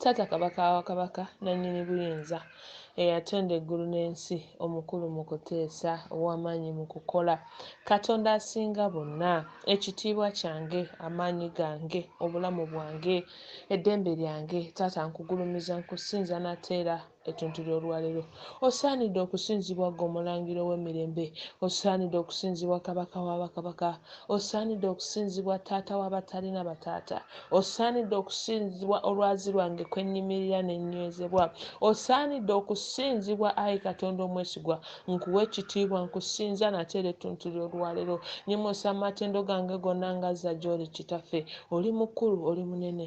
Taata Kabaka wa Kabaka nannyini buyinza, eyatonda eggulu n'ensi, omukulu mu kuteesa, ow'amaanyi mu kukola, Katonda asinga bonna, ekitiibwa kyange, amaanyi gange, obulamu bwange, eddembe lyange, Taata nkugulumiza, nkusinza nate era ettuntu ly'olwaleero osaanidde okusinzibwa ggwe omulangira ow'emirembe osaanidde okusinzibwa kabaka wa bakabaka osaanidde okusinzibwa taata wa batalina bataata osaanidde okusinzibwa olwazi lwange kwe nnyimirira ne nnywezebwa osaanidde okusinzibwa ayi katonda omwesigwa nkuwa ekitiibwa nkusinza nate era ettuntu ly'olwaleero nyimusa amatendo gange gonna ngazza gy'oli kitaffe oli mukulu oli munene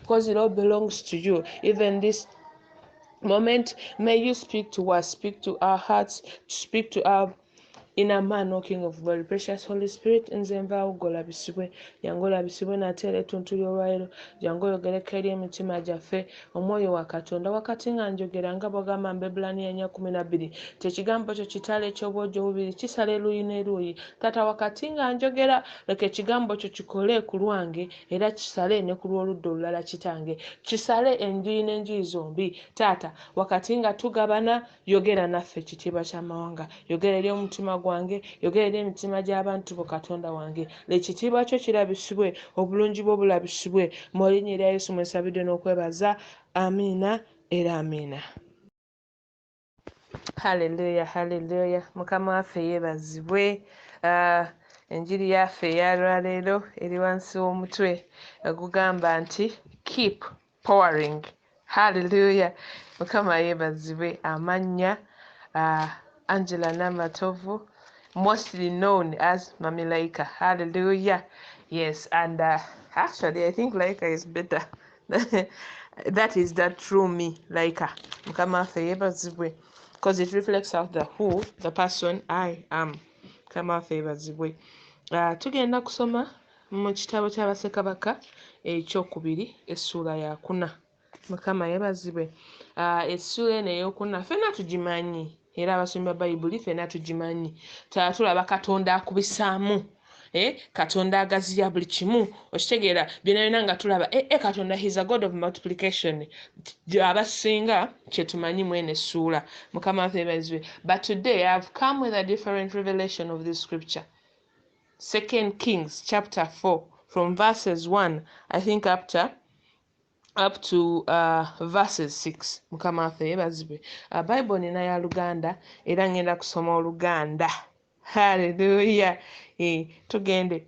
because it all belongs to you. Even this moment, may you speak to us, speak to our hearts, speak to our inner man, O King of glory. Precious Holy Spirit, in nze nvaawo golabisibwe jangu olabisibwe nate era ettuntu ly'olwaliro jangu oyogereko eri emitima gyaffe omwoyo wa katonda wakati nga njogera nga bwagamba mbebulaniya nya kumi na bbiri nti ekigambo kyo kitala eky'obwogi obubiri kisala eruuyi n'eruuyi taata wakati nga njogera leka ekigambo kyo kikole ku lwange Era kisale ne ku lw'oludda olulala, Kitange. Kisale enjuyi n'enjuyi zombi, Taata, wakati nga tugabana. Yogera naffe, Kitiibwa ky'Amawanga. Yogera eri omutima gwange. Yogera eri emitima gy'abantu Bo, Katonda wange. Leka Ekitiibwa Kyo kirabisibwe, Obulungi Bwo bulabisibwe. Mu Linnya erya Yesu mwe nsabidde n'okwebaza. Amiina era Amiina. haleluya haleluya mukama waffe yeebazibwe ah, enjiri yaffe eyalwaleero eri wansi w'omutwe ogugamba nti keep powering haleluya mukama yeebazibwe amannya ah, angela namatovu mostly known as mami laika haleluya yes and uh, actually i think laika is better that is the true me like uh, mukama waffe yebazibwe because it reflects out the who the person i am mukama waffe yebazibwe uh, tugenda kusoma mu kitabo kyabasekabaka ekyokubiri essuula yakuna mukama yebazibwe uh, essuula eno eyokuna fena tugimanyi era abasomyi ba bayibuli fena tugimanyi tatulaba katonda akubisaamu eh, katonda agaziya buli kimu okitegeera byona byona nga tulaba eh, eh, katonda his a god of multiplication abasinga kyetumanyi mwene suula mukama nfebazibwe but today i have come with a different revelation of this scripture second kings chapter 4 from verses 1 i think up to up to uh, verses 6 mukama waffe yebazibwe uh, bible nina ya luganda era ngenda kusoma oluganda haleluya e, tugende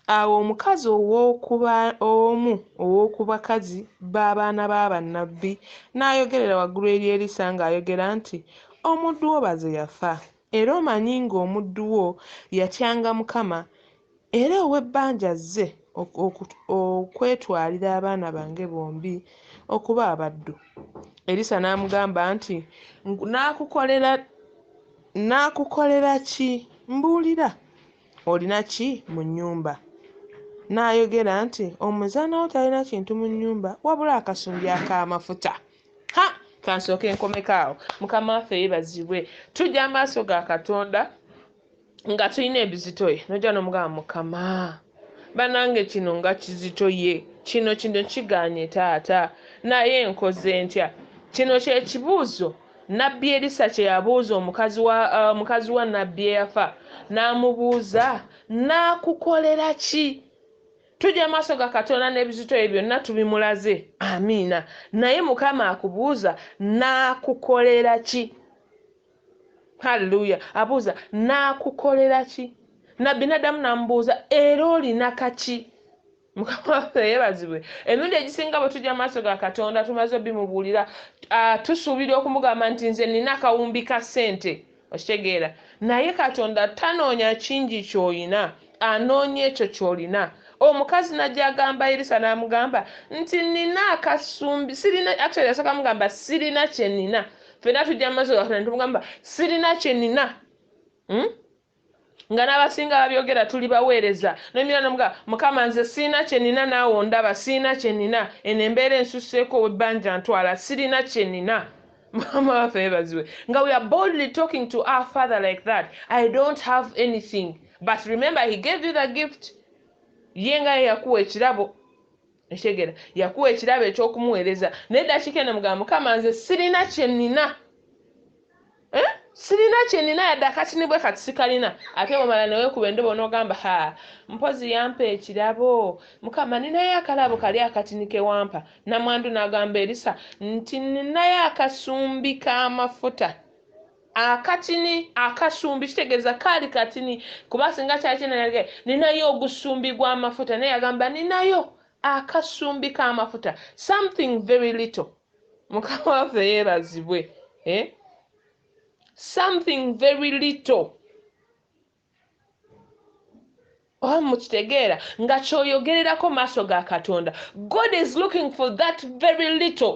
awo omukazi ow'okuba omu ow'oku bakazi b'abaana b'abannabbi n'ayogerera waggulu eri erisa ng'ayogera nti omuddu wo baze yafa era omanyi ng'omuddu wo yatyanga mukama Era ow'ebbanja azze okwetwalira abaana bange bombi okuba abaddu. Erisa n'amugamba nti, Nnaakukolera ki? Mbuulira, olina ki mu nnyumba? N'ayogera nti, Omuzaana wo talina kintu mu nnyumba wabula akasumbi ak'amafuta. Ha, ka nsooke nkomeko awo. Mukama waffe yeebazibwe. Tujja mu maaso ga Katonda. nga tulina ebizitoye noja nomugamba mukama banange kino nga kizitoye kino kino kiganye taata naye nkoze ntya kino kyekibuuzo nabbi erisa kyeyabuuza omukazi wa uh, mukazi wa nabbi eyafa n'amubuuza n'akukolera ki tujja maaso ga katonda n'ebizitoye byonna tubimulaze amiina naye mukama akubuuza n'akukolera ki Hallelujah. Abuuza, Naakukolera ki? Nabbi n'addamu n'amubuuza, Era olina kaki? Mukama waffe yeebazibwe. Emirundi egisinga bwe tujja mu maaso ga Katonda tumaze obimubuulira, tusuubira okumugamba nti nze nnina akawumbi ka ssente. Okitegeera? Naye Katonda tanoonya kingi ky'olina, anoonya ekyo ky'olina. Omukazi n'ajja agamba Erisa n'amugamba nti nnina akasumbi, sirina, actually yasooka mugamba sirina kye nnina, ffena tujja mu maaso gaffe netugamba sirina kyenina hmm? nga n'abasinga babyogera tuli baweereza nomira nomuga mukama nze siina kyenina naawe ondaba siina kyenina eno embeera ensusseeko webbanja ntwala sirina kyenina mama waffe yebaziwe nga we are boldly talking to our father like that i don't have anything but remember he gave you the gift ye nga yeyakuwa ekirabo ekitegera yakuwa ekirabo eky'okumuweereza naye eddakiika eno mugamba mukama nze sirina kye nina eh? sirina kye nina yadde akatini bwe kati sikalina ate bwomala newekuba endobo n'ogamba ha mpozi yampa ekirabo mukama ninayo akalabo kali akatini kewampa namwandu n'agamba erisa nti ninayo akasumbi k'amafuta Akatini akasumbi kitegeeza kaali katini kuba singa kyali kinanage ninayo ogusumbi gw'amafuta naye yagamba ninayo akasumbi k'amafuta something very little mukama waffe yeebazibwe eh? something very little oba mukitegeera nga kyoyogererako maaso ga katonda god is looking for that very little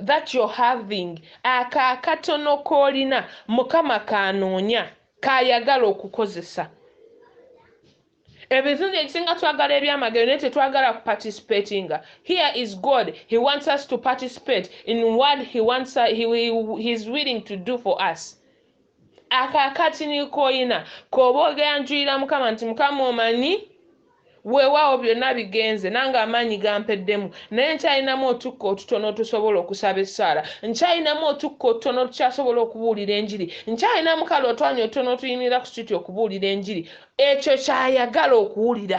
that you're having ako akatono koolina mukama kanoonya kayagala okukozesa ebizinzi ekisinga twagala ebyamagero naye tetwagala ku participatinga here is god he wants us to participate in what he wants us, he, he, he is willing to do for us ako akatini koyina koba ogera njulira mukama nti mukama omanyi weewaawo byonna bigenze nange amaanyi gampeddemu naye nkyalinamu otukka otutono otusobola okusaba essaala nkyalinamu otukka otutono otukyasobola okubuulira enjiri nkyalinamu kale otwanya otutono otuyimirira ku situti okubuulira enjiri ekyo kyayagala okuwulira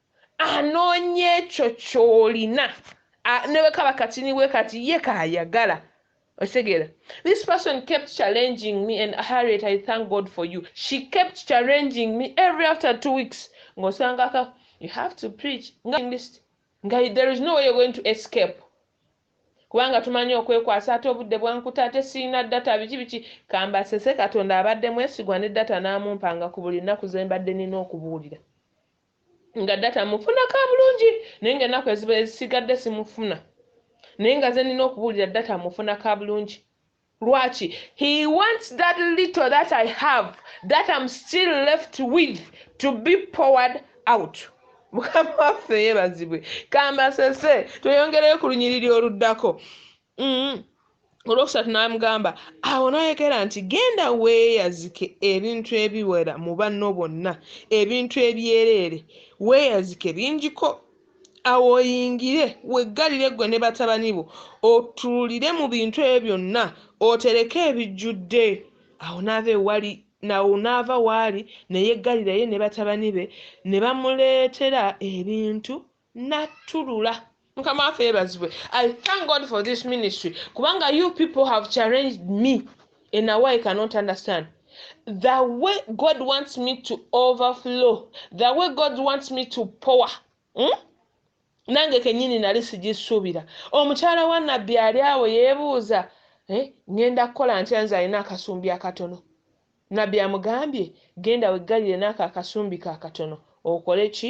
anoonya ekyo ky'olina ne bwe kaba katini bwe kati ye kaayagala okitegera this person kept challenging me and harriet i thank god for you she kept challenging me every after two weeks ng'osanga ka you have to preach nga list nga there is no way you're going to escape kubanga tumanyi okwekwasa ate obudde bwankuta ate sirina data biki biki kambasese katonda abadde mwesigwa ne data n'amumpanga ku buli nnaku ze mbadde nina okubuulira nga data mufuna ka bulungi naye nga ennaku eziba ezisigadde simufuna naye nga ze nina okubuulira data mufuna ka bulungi lwaki he wants that little that i have that am still left with to be powered out mukama waffe yebazibwe kambasese tweyongereyo ku lunyiriri oluddako mm. olwokusatu n'amugamba awo n'ayogera nti genda weeyazike ebintu ebiwera mu banno bonna ebintu ebyereere weeyazike bingiko awo oyingire weggalire ggwe ne batabani bo otuulire mu bintu ebyo byonna otereke ebijjudde awo n'ava ewali nawo n'ava waali ne yeggalirayo ne batabani be ne bamuleetera ebintu natulula mukama waffe yebazibwe i thank god for this ministry kubanga you people have challenged me in a way i cannot understand the way god wants me to overflow the way god wants me to power hmm? nange kenyini nali sigisuubira omukyala wa nabbi ali awo yebuuza eh, ngenda kukola ntya nze alina akasumbi akatono nabbi amugambye genda weggalire naako akasumbi kakatono okole ki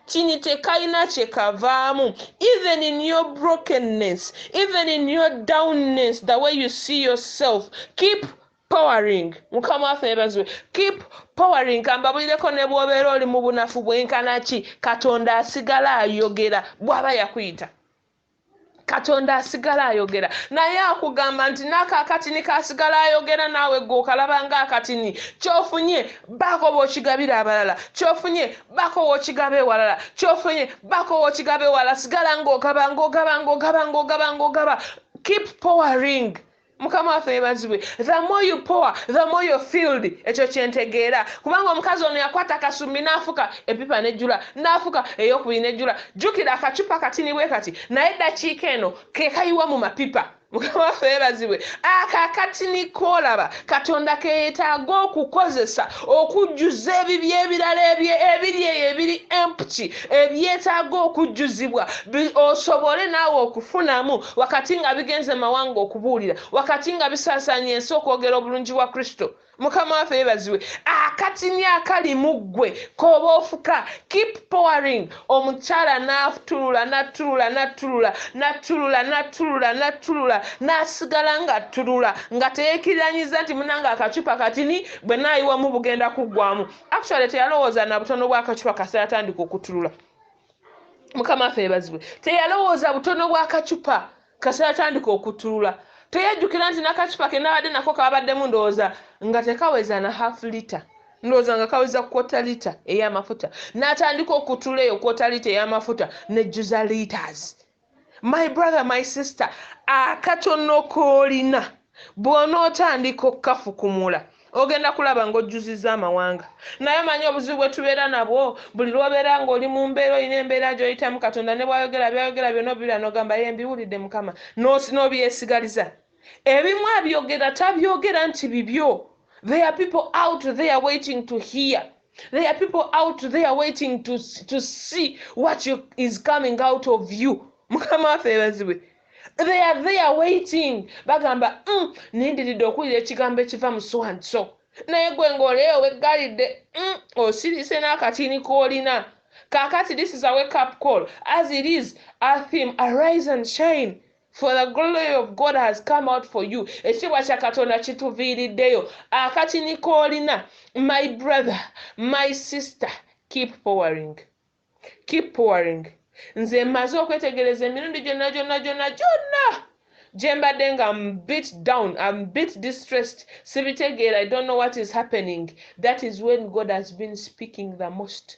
kini tekalina kyekavaamu even in your brokenness even in your downness the way you see yourself keep powering mukama waffe yebazibwe keep powering kambabulireko ne bwobeera oli mu bunafu bwenkana ki katonda asigala ayogera bwaba yakuyita katonda asigala ayogera naye akugamba nti naako akatini kasigala ayogera naawe gwe okalaba nga akatini kyofunye baako bwokigabira abalala kyofunye baako wokigaba ewalala kyofunye baako wokigaba ewala sigala ngaogaba ngaogaba ngaogaba ngaogaba ngaogaba keep powering mukama waffe yebazibwe the more you power the more your field ekyo kyentegeera kubanga omukazi ono yakwata akasumbi n'afuka epipa nejjula n'afuka eyokubiri nejjula jjukira akacupa katini bwe kati naye eddakiika eno kekayiwa mu mapipa mukama waffe yebazibwe akakatini koolaba katonda keyetaaga okukozesa okujjuza ebibyo ebirala ebyo ebiri eyo ebiri empty ebyetaaga okujjuzibwa bi, osobole naawe okufunamu, wakati nga bigenze mu mawanga okubuulira, wakati nga bisaasaanya ensi okwogera obulungi bwa Kristo. Mukama waffe yeebazibwe! Akatini akali mu ggwe k'oba ofuka, keep pouring. Omukyala n'attulula, n'attulula, n'attulula, n'attulula, n'attulula, n'attulula, n'asigala nga attulula, nga teyeekiriranyiza nti, Munnange, akacupa katini bwe nnaayiwamu bugenda kuggwaamu. actually teyalowooza na butono bwakacupa kasita atandika okutulula mukama affe ebazibwe teyalowooza butono bwakacupa kasita atandika okutulula teyajjukira nti nakacupa ke nabadde nako kabaddemu ndowooza nga tekaweza na half lita ndowooza nga kaweza kwota lita ey'amafuta n'atandika okutula eyo kwota lita ey'amafuta nejjuza litas my brother my sister akatono koolina bw'onootandika okukafukumula ogenda kulaba ng'ojjuziza amawanga naye omanyi obuzibu bwe tubeera nabwo buli lw'obeera ng'oli mu mbeera olina embeera gy'oyitamu katonda ne bwayogera byayogera byona obibira n'ogamba ye mbiwulidde mukama n'obyesigaliza no, no, Ebimu abyogera tabyogera nti bibyo. There are people out there waiting to hear. There are people out there waiting to, to see what you, is coming out of you. Mukama waffe ebazibwe. They are there waiting. Bagamba, mm, nindiridde okuwulira ekigambo ekiva mu so and so. Naye gwe ng'oleyo weggalidde, mm, osirise n'akatini k'olina. Kakati this is a wake up call. As it is, a theme, arise and shine. For the glory of God has come out for you. Ekitiibwa kya Katonda kituviiriddeyo. Akatini k'olina, my brother, my sister, keep powering. Keep powering. Nze mmaze okwetegereza emirundi gyonna gyonna gyonna gyonna gye mbadde nga am bit down, am bit distressed, sibitegeera, I don't know what is happening. That is when God has been speaking the most.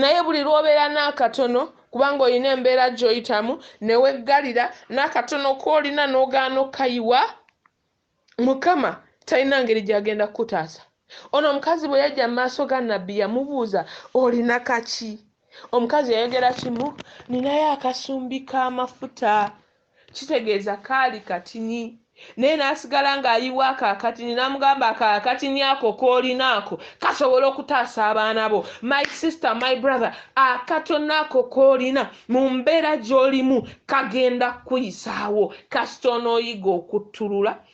Naye buli lw'obeera n'akatono kubanga olina embeera gy'oyitamu ne weggalira n'akatono k'olina n'ogaana okukayiwa, Mukama talina ngeri gy'agenda kukutaasa. Ono omukazi bwe yajja mu maaso ga Nabbi yamubuuza, Olina kaki? Omukazi yayogera kimu, Nninayo akasumbi k'amafuta. Kitegeeza kaali katini. Naye n'asigala ng'ayiwa ako akatini n'amugamba ako akatini ako k'olina ako kasobola okutaasa abaana bo. My sister, my brother, akatono ako k'olina mu mbeera gy'olimu kagenda kukuyisaawo kasita onooyiga okuttulula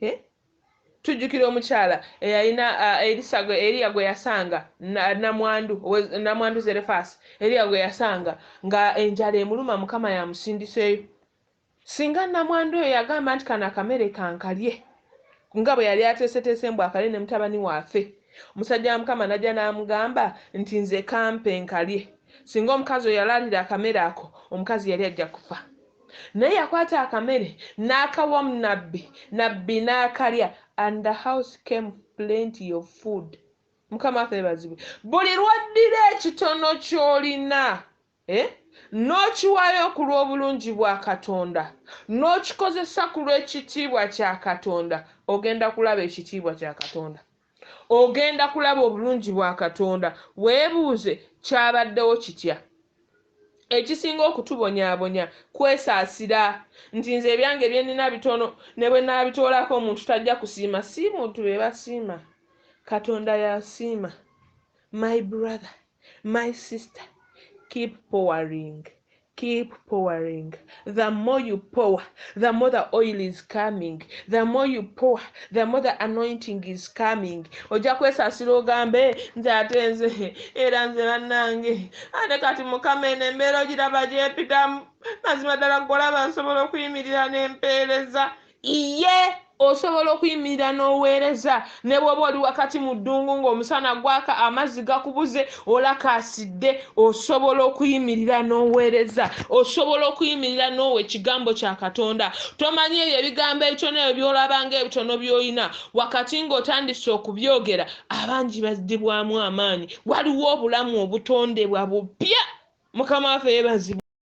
Eh? tujjukira omukyala eyalina uh, elisa eriya gwe yasanga namwandu namwandu zerefaasi eriya gwe yasanga nga enjala emuluma mukama yamusindiseeyo singa namwandu oyo yagamba nti kano akamere kankalye nga bwe yali ateeseteese mbu akalye ne mutabani waafe omusajja wa mukama najja n'amugamba nti nze kampe nkalye singa omukazi oyo yalaalira akamere ako omukazi yali ajja kufa Naye yakwata akamere nakawa nabbi nabbi nakalya and the house came plenty of food mukama waffe yebazibwe buli lwoddira ekitono kyolina eh nokiwayo okulwobulungi bwa katonda nokikozesa kulwekitiibwa kya katonda ogenda kulaba ekitiibwa kya katonda. Ogenda kulaba obulungi bwa Katonda. Weebuuze, Kyabaddewo kitya? Ekisinga okutubonyaabonya kwesaasira, nti nze ebyange bye nnina bitono, ne bwe nnaabitoolako omuntu tajja kusiima. Si muntu be basiima, Katonda y'asiima. My brother, my sister, keep powering Keep pouring the more you pour the more the oil is coming the more you pour the more the anointing is coming ojja kwesasira ogambe nze ate nze era nze bannange ate kati mukama eno embeera ogiraba gyepitamu mazima ddala golaba nsobola okuyimirira n'empeereza Iye, osobola okuyimirira n'oweereza ne bw'oba oli wakati mu ddungu ng'omusana gwaka, amazzi gakubuze, olakaasidde, osobola okuyimirira n'oweereza. Osobola okuyimirira n'owa Ekigambo kya Katonda. Tomanyi ebyo ebigambo ebitono ebyo by'olaba ng'ebitono by'olina, wakati ng'otandise okubyogera, abangi bazzibwamu amaanyi. Waliwo obulamu obutondebwa bupya. Mukama waffe yeebazibwe.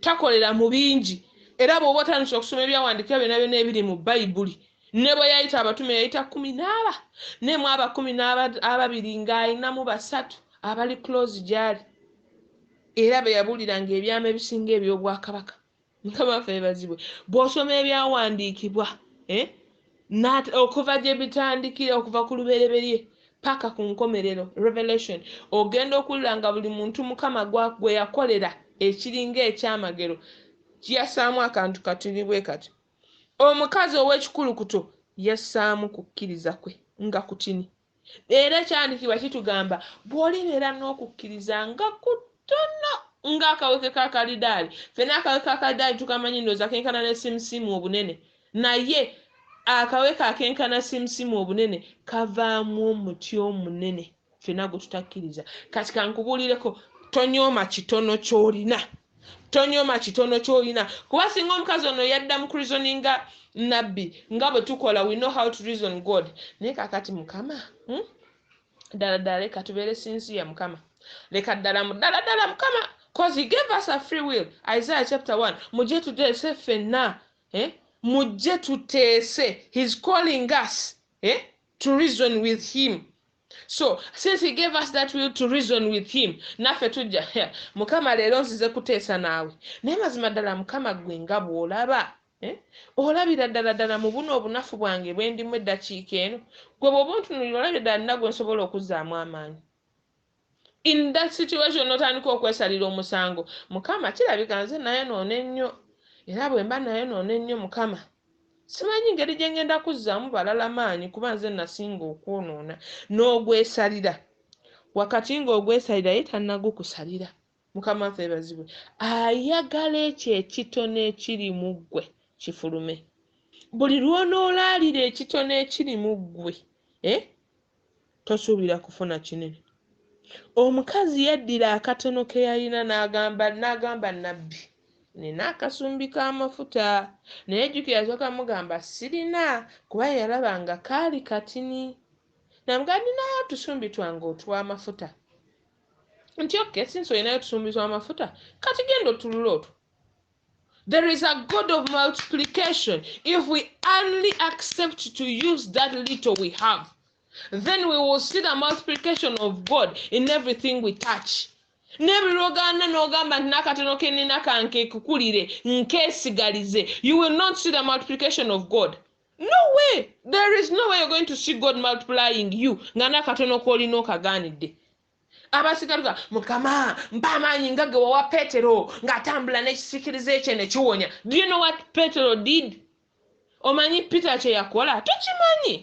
Takolera mu bingi. Era bw'oba otandise okusoma ebyawandiikibwa byonna byonna ebiri mu Bayibuli, ne bwe yayita abatume yayita kkumi n'aba, ne mu aba kkumi n'aba ababiri ng'alinamu basatu abali close gy'ali, era be yabuuliranga ebyama ebisinga eby'obwakabaka. Mukama waffe yebazibwe. Bw'osoma ebyawandiikibwa, eh, Nat, okuva gye bitandikira okuva ku lubereberye paka ku nkomerero revelation ogenda okuwulira nga buli muntu mukama gwe yakolera ekiringa ekyamagero kiyasaamu akantu katuli bwe kati omukazi ow'ekikulukuto yassaamu kukkiriza kwe nga kutini Era ekyandikibwa kitugamba bw'olibeera n'okukkiriza nga kutono ng'akaweke ka kalidaali. Fena akaweke ka kalidaali tukamanyi ndooza kenkana ne simusimu obunene, naye akaweke akenkana simusimu obunene kavaamu omuti omunene fena gwe tutakkiriza. Kati kankubuulireko, tonyooma kitono ky'olina. tonyoma kitono kyolina kuba singa omukazi ono yadda mu kurizoninga nabbi nga bwe tukola we know how to reason god naye kakati mukama hmm? ddala ddala leka tubeere sinziya mukama leka ddala ddala ddala mukama cause he gave us a free will isaiah chapter 1 mujje tuteese ffenna eh? mujje tuteese his calling us eh? to reason with him so since he gave us that will to reason with him naffe tujja mukama leero nzize kuteesa naawe naye mazima ddala mukama gwe nga bw'olaba eh? olabira ddala ddala mu buno obunafu bwange bwe ndimu eddakiika eno gwe bw'oba ontunulira olabira ddala nina gwe nsobola okuzaamu amaanyi in that situation notandika okwesalira omusango mukama kirabika nze nayonoona ennyo era bwemba nayonoona ennyo mukama simanyi ngeri gye ngenda kuzzaamu balala maanyi kuba nze nasinga okwonoona n'ogwesalira wakati ng'ogwesalira ye tannagukusalira no mukama waffe ebazibwe ayagala ekyo ekitono ekiri mu ggwe kifulume buli lwonoolaalira ekitono ekiri mu ggwe eh? tosuubira kufuna kinene omukazi yaddira akatono ke yalina n'agamba n'agamba nabbi nina akasumbi k'amafuta naye jjukira yasooka mugamba sirina kuba yalaba nga kaali katini namugaa ninayo otusumbi twange otw'amafuta nti okay since olinayo tusumbizwa amafuta kati genda otulula otwo There is a God of multiplication. If we only accept to use that little we have, then we will see the multiplication of God in everything we touch. nebirogana nogamba nti nakatono kenina kanke kukulire nkesigalize you will not see the multiplication of god no way there is no way you're going to see god multiplying you nga nakatono kolina okaganidde abasigaluka mukama mpa amaanyi nga ge wawa petero ng'atambula n'ekisikiriza ekye ne kiwonya do you know what petero did omanyi peter kye yakola tokimanyi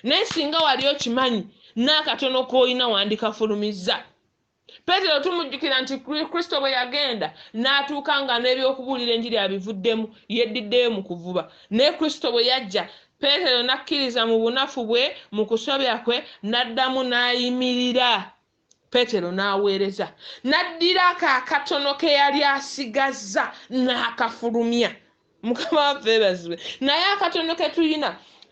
naye singa wali okimanyi n'akatono k'olina wandikafulumizza peetero tumujjukira nti kristo bwe yagenda n'atuuka nga n'eby'okubuulira enjiri abivuddemu yeddiddeyo mu kuvuba naye kristo bwe yajja peetero n'akkiriza mu bunafu bwe mu kusobya kwe n'addamu n'ayimirira peetero n'aweereza n'addira ako akatono ke yali asigazza n'akafulumya mukama waffe ebazibwe naye akatono ketulina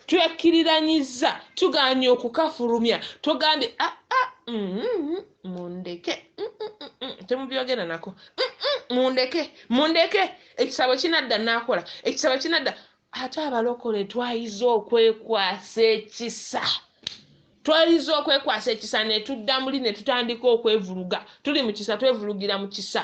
twekkiriranyiza tuganye okukafulumya tugambye ah, ah, mm-hmm, mundeke mm-hmm, temubyogera nako mm-hmm, mundeke mundeke ekisabo kinadda nakola ekisabo kinadda ate abalokole twayiza okwekwasa ekisa twayiza okwekwasa ekisa netudda muli netutandika okwevuluga tuli mu kisa twevulugira mu kisa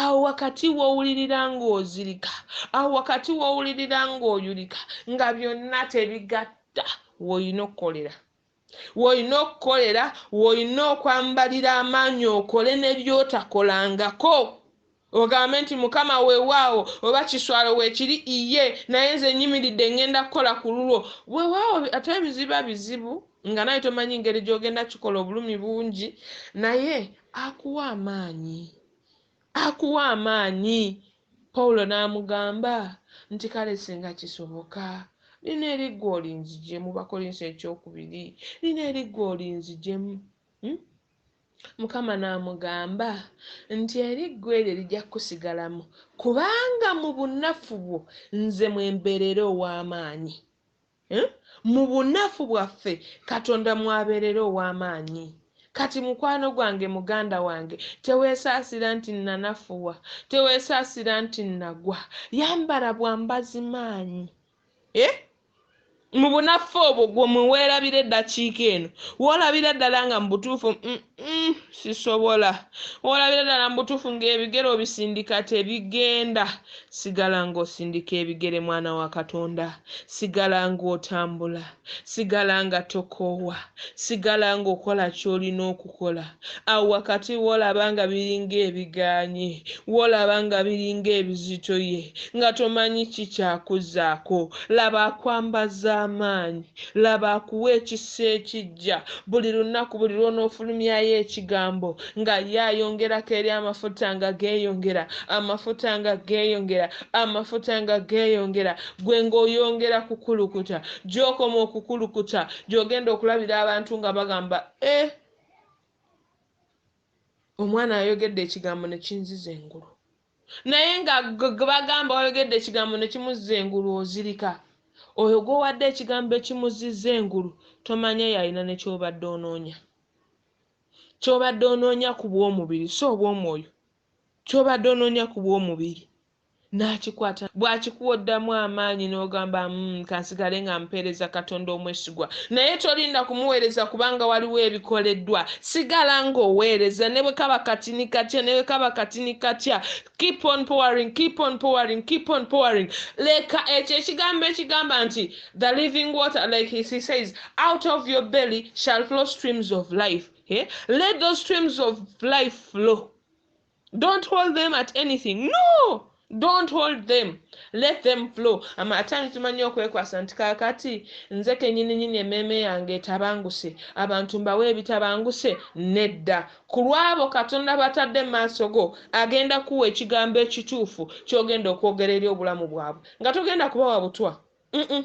awo wakati w'owulirira ng'ozirika awo wakati w'owulirira ng'oyulika nga byonna tebigatta w'olina okukolera w'olina okukolera w'olina okwambalira amaanyi okole ne by'otakolangako ogambe nti mukama weewaawo oba kiswalo weekiri iye naye nze nyimiridde ngenda kukola ku lulwo weewaawo ate ebiziba bizibu nga naye tomanyi ngeri gy'ogenda kikola obulumi bungi naye Akuwa amaanyi. Akuwa amaanyi. Pawulo n'amugamba nti, Kale singa kisoboka, lino eri ggwe olinzigyemu. Bakolinso ekyokubiri, lino eri ggwe olinzigyemu. Hmm? Mukama n'amugamba nti, Eri ggwe eryo lijja kukusigalamu, kubanga mu bunafu bwo nze mwe mbeerera ow'amaanyi. Eh? Mu bunafu bwaffe Katonda mw'abeerera ow'amaanyi. Kati, mukwano gwange, muganda wange, teweesaasira nti, Nnanafuwa. Teweesaasira nti, Nnagwa. Yambala bwambazi maanyi. Eh? Mu bunafu obwo gwo mwe weerabira eddakiika eno. W'olabira ddala nga mu butuufu, mm, Mm, sisobola olabira ddala mu butuufu ng'ebigere obisindika tebigenda sigala ng'osindika ebigere mwana wa katonda sigala ng'otambula sigala nga tokoowa sigala ng'okola ky'olina okukola awo wakati woolaba nga biringa ebiganye woolaba nga biringa ebizitoye nga tomanyi kikyakuzaako laba akwambaza amaanyi Laba akuwa ekisa ekiggya buli lunaku, buli lw'onoofulumyayo Ekigambo, nga Ye ayongerako eri amafuta nga geeyongera, amafuta nga geeyongera, amafuta nga geeyongera, ggwe nga oyongera kukulukuta. Gy'okoma okukulukuta, gy'ogenda okulabira abantu nga bagamba, Eh! Omwana ayogedde Ekigambo ne kinziza engulu. naye nga gbagamba wayogedde ekigambo ne kimuzza engulu ozirika oyo gwowadde ekigambo ekimuzizza engulu tomanya yalina ne kyobadde onoonya kyobadde onoonya ku bw'omubiri si obw'omwoyo kyobadde onoonya ku bw'omubiri n'akikwata bw'akikuwa oddamu amaanyi n'ogamba mm, kansigale nga mpeereza katonda omwesu kyaweerezeddwa naye tolinda kumuweereza kubanga waliwo ebikoleddwa sigala ng'oweereza ne bwe kaba katini katya ne bwe kaba katini katya keep on powering keep on powering keep on powering leka ekyo ekigambo ekigamba nti the living water like he says out of your belly shall flow streams of life eh? let those streams of life flow don't hold them at anything no don't hold them let them flow ama atani tumanyi okwekwasa nti kakati nze kenyininyini emmeeme yange etabanguse abantu mbawe ebitabanguse nedda ku lwabo katonda batadde mu maaso go agenda kuwa ekigambo ekituufu kyogenda okwogera eri obulamu bwabwe nga togenda kubawa butwa mm -mm.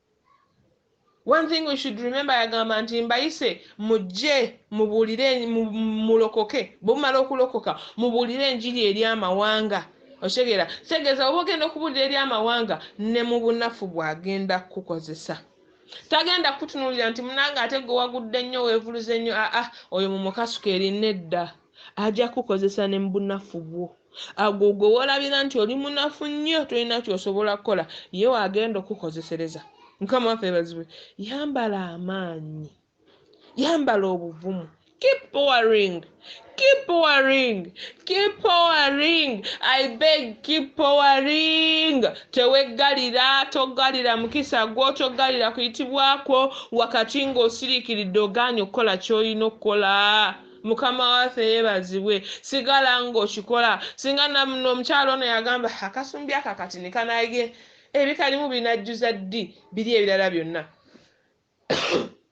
one thing we should remember yagamba nti mbayise mujje mubuulire mulokoke bwemumala okulokoka mubuulire enjiri eri amawanga okitegeera kitegeeza oba ogenda okubuulira eri amawanga ne mu bunafu bwagenda kukukozesa tagenda kukutunuulira nti munange ate gwe wagudde nnyo weevuluze nnyo aa oyo mumukasuka eri nedda aja kukozesa ne mubunafu bwo agwo gwe wolabira nti oli munafu nnyo tolina kyosobola kukola ye wagenda okukozesereza mukama waffe ebazibwe yambala amaanyi yambala obuvumu keep powering keep powering keep powering i beg keep powering teweggalira toggalira mukisa gwo toggalira kuyitibwakwo wakati ng'osiriikiridde ogaanye okukola ky'olina okukola mukama waffe yebazibwe sigala nga okikola singa namno omukyalo ono yagamba akasumbi ako akati nikanage ebikalimu binajjuza ddi biri ebirala byonna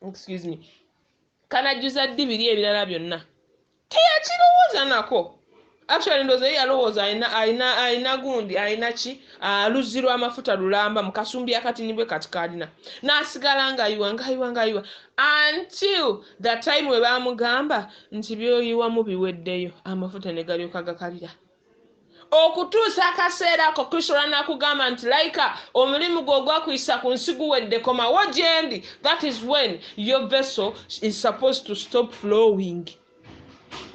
excuse me kanajjuza ddi biri ebirala byonna teyakirowooza nako Actually ndoza ye yalowooza alina alina alina gundi alina ki ah, luzzi lwa mafuta lulamba mu kasumbi akatini bwe kati kalina n'asigala ngayiwa ngayiwa ngayiwa until the time we baamugamba nti byoyiwamu biweddeyo amafuta ne galyoka gakalira okutuusa akaseera ako kristo lwanakugamba nti layika omulimu gwe ogwakuyisa ku nsi guwedde komawo gyendi that is when your vessel is supposed to stop flowing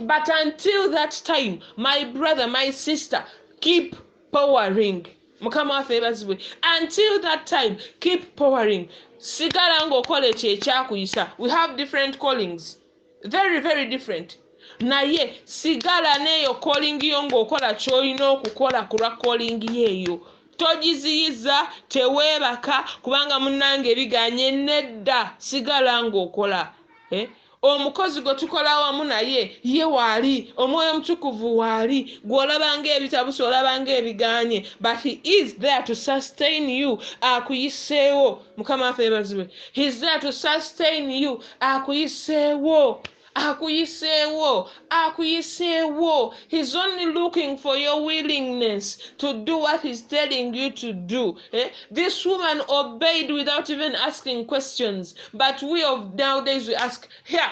but until that time my brother my sister keep powering mukama waffe ebazibwe until that time keep powering sigala ngaokola ekyo ekyakuyisa we have different callings very very different naye sigala neeyo kolingi yo ngaokola kyolina okukola ku lwa kolingi yeeyo togiziyiza teweebaka kubanga munange ebiganye nedda sigala ngaokola eh? Omukozi gwe tukola awamu naye, ye waali. Omwoyo Omutukuvu waali. Gwe olaba nga ebitabuse, olaba nga ebigaanye, but He is there to sustain you. Akuyiseewo. Mukama waffe yebazibwe. He is there to sustain you. Akuyiseewo. Akuyiseewo. Akuyiseewo. He is only looking for your willingness to do what He is telling you to do. Eh, this woman obeyed without even asking questions but we of nowdays we ask here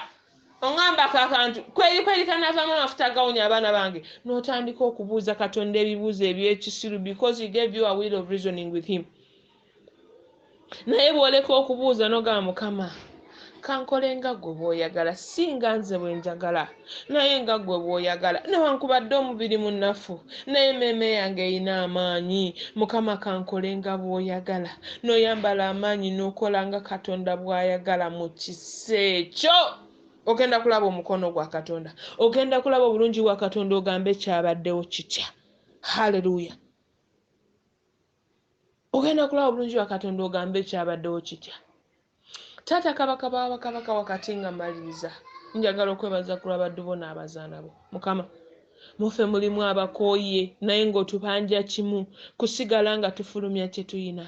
ongambako akantu kwerikwerikanavamu amafuta agawunya abaana bange notandika okubuuza katonda ebibuuzo ebyekisiru because he gave you a will of reasoning with him naye bwoleka okubuuza nogamba mukama kankole nga gwe bwoyagala si nga nze bwenjagala naye nga gwe bwoyagala newankubadde omubiri munafu naye meeme yange erina amaanyi mukama kankole nga bwoyagala noyambala amaanyi nokola nga katonda bwayagala mu kisa ekyo ogenda kulaba omukono gwa katonda ogenda kulaba obulungi bwa katonda ogambe kyabaddewo kitya haleluya ogenda kulaba bulungi wa katonda ogambe ekyabaddewo kitya taata kabaka bawabakabaka wakati nga maliriza njagala okwebaza ku lwabaddu bo n'abazaana bo mukama mufe mulimu abakooye naye ng'otubanja kimu kusigala nga tufulumya kye tuyina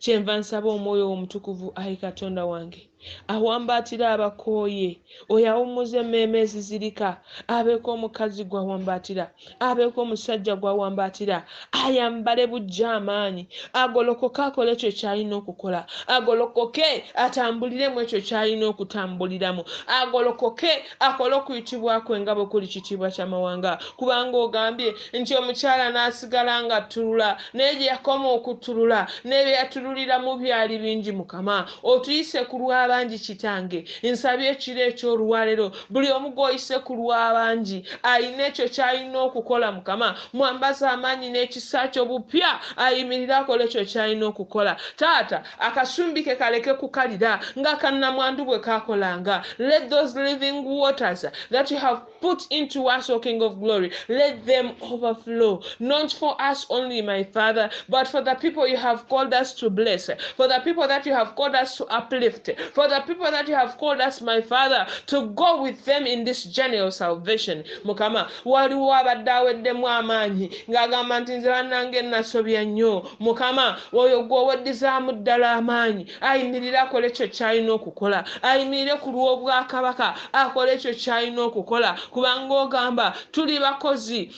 kyenva nsaba omwoyo wo omutukuvu ayi katonda wange awambaatira abakooye oyo awummuza emmeeme ezizirika abeeko omukazi gw'awambaatira abeeko omusajja gw'awambaatira ayambale bujja amaanyi agolokoke akole ekyo ky'alina okukola agolokoke atambulire mu ekyo ky'alina okutambuliramu agolokoke akole okuyitibwa kwe nga bwe kuli kitiibwa ky'amawanga kubanga ogambye nti omukyala n'asigala nga tulula naye gye yakoma okutulula n'ebyo yatululiramu byali bingi mukama otuyise ku lw'abangi kitange nsabye ekiro eky'olwalero buli omu gw'oyise ku lw'abangi alina ekyo ky'alina okukola mukama mwambaza amaanyi n'ekisa kyo bupya ayimirire akole ekyo ky'alina okukola taata Akasumbi ke kaleke kukalira nga aka nnamwandu bwe kaakolanga. Let those living waters that you have put into us, O King of Glory, let them overflow, not for us only, my Father, but for the people you have called us to bless, for the people that you have called us to uplift, for the people that you have called us, my Father, to go with them in this journey of salvation. Mukama, waliwo abadde aweddemu amaanyi ng'agamba nti nze bannange nasobya nnyo Mukama, oyo gwe oweddizaamu ddala amaanyi, ayimirire akole ekyo ky'alina okukola. Ayimirire ku lw'Obwakabaka, akole ekyo ky'alina okukola, kubanga ogamba, Tuli bakozi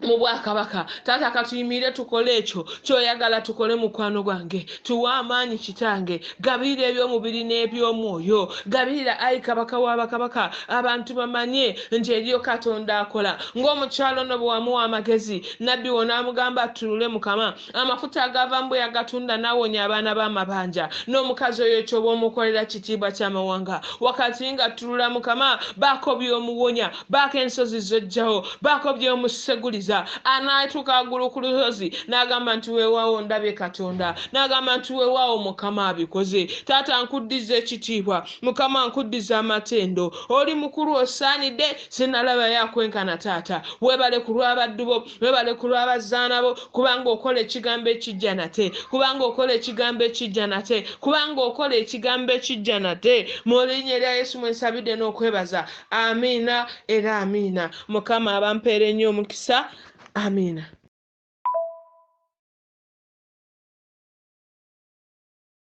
mu Bwakabaka. Taata, ka tuyimirire tukole ekyo ky'Oyagala tukole, mukwano gwange. Tuwe amaanyi, Kitange. Gabirira eby'omubiri n'eby'omwoyo. Gabirira, ayi Kabaka wa bakabaka, abantu bamanye nti eriyo Katonda akola, nga omukyala ono bwe wamuwa amagezi. Nabbi wo n'amugamba attunule Mukama amafuta agaavaamu bwe yagatunda n'awonya abaana b'amabanja n'omukazi oyo ky'oba omukolera kitiibwa ky'amawanga wakati ng'attulula Mukama baako by'omuwonya baako ensozi z'oggyawo baako by'omuseguliza anaatuuka waggulu ku lusozi n'agamba nti weewaawo ndabye Katonda n'agamba nti weewaawo Mukama abikoze taata nkuddiza ekitiibwa Mukama nkuddiza amatendo oli mukulu osaanidde sinalaba yakwenkana taata webale ku lwabaddu bo webale ku lwabazaana bo kubanga okola ekigambo ekijja nate kubanga okola ekigambo ekijja nate kubanga okola ekigambo ekijja nate mu linya erya yesu mwensabidde n'okwebaza amiina era amiina mukama abampeere nnyo omukisa amiina